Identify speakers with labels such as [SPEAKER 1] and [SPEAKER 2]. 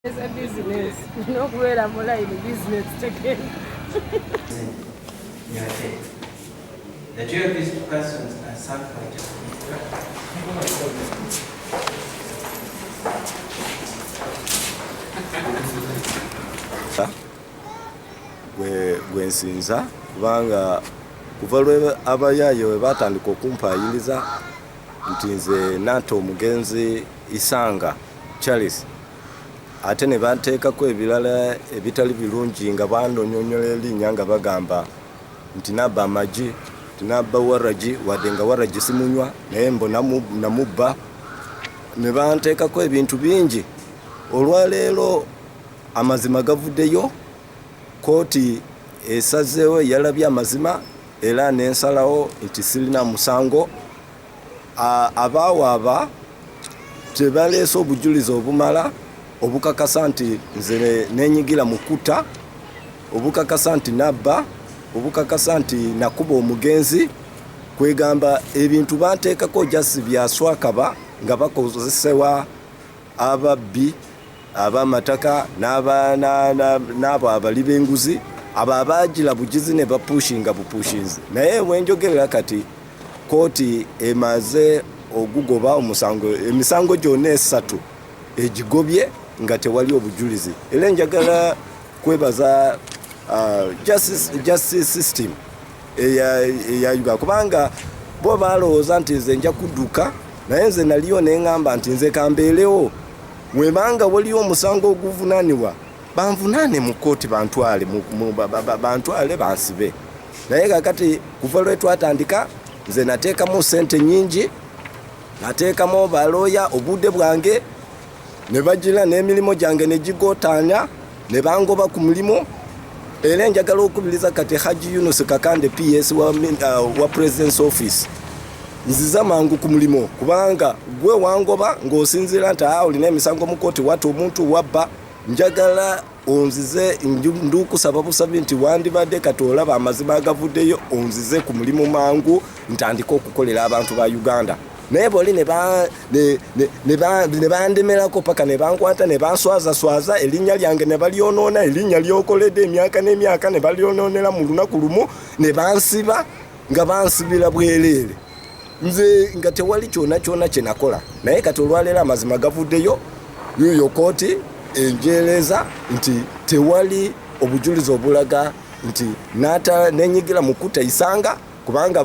[SPEAKER 1] eza business
[SPEAKER 2] nokubeera mu line business tegenda The two of these persons are suffering. gwe nsinza kubanga kuva lwe abayaaye we baatandika okumpaayiriza nti nze naata omugenzi isanga charles ate ne banteekako ebirala ebitali birungi nga bandonyonyola erinnya nga bagamba nti nabba amagi nti nabba waragi wadde nga waragi simunywa naye mbo namubba ne banteekako ebintu bingi olwaleero amazima gavuddeyo kooti esazeewo yalabye amazima era nensalawo nti sirina musango Abaawaaba tebaleese obujulizi obumala obukakasa nti nze nenyigira mu kuta, obukakasa nti nabba, obukakasa nti nakuba omugenzi kwegamba ebintu banteekako jasi byaswakaba nga bakozesewa ababbi abamataka n'abo abali b'enguzi abo abaagila bugizi ne bapushinga bupushinzi naye wenjogerera kati Kkooti emaze ogugoba omusango emisango gyonna esatu egigobye nga tewali obujulizi era enjagala kwebaza uh, justice system eya uganda kubanga bo balowooza nti nze nja kudduka naye nze naliyo neŋamba nti nze kambeerewo webanga waliyo omusango oguvunanibwa banvunaane mu kkooti bantwale bantwale bansibe naye kakati kuva lwetwatandika nze nateekamu sente nyingi nateekamu balooya obudde bwange ne bagira n'emirimu gyange ne gigotaanya ne bangoba ku mulimu era enjagala okukubiriza kati haji yunus kakande ps wa, uh, wa presidence office nziza mangu ku mulimu kubanga gwe wangoba ng'osinziira nti a ah, olina emisango mu kooti wata omuntu wabba njagala onzize ndukusaba busabi nti wandibadde kati olaba amazima agavuddeyo onzize ku mulimu mangu ntandike okukolera abantu ba uganda naye boli nebandemerako paka nebankwata nebanswazaswaza erinnya lyange nebalyonoona erinnya lyokoledde emyaka n'emyaka nebalyonoonera mu lunaku lumu nebansiba nga bansibira bwereere nze nga tewali kyona kyona kyenakola naye kati olwaleero amazima gavuddeyo yoyo kooti enjeereza nti tewali obujulizi obulaga nti nenyigira mu kutta isanga kubanga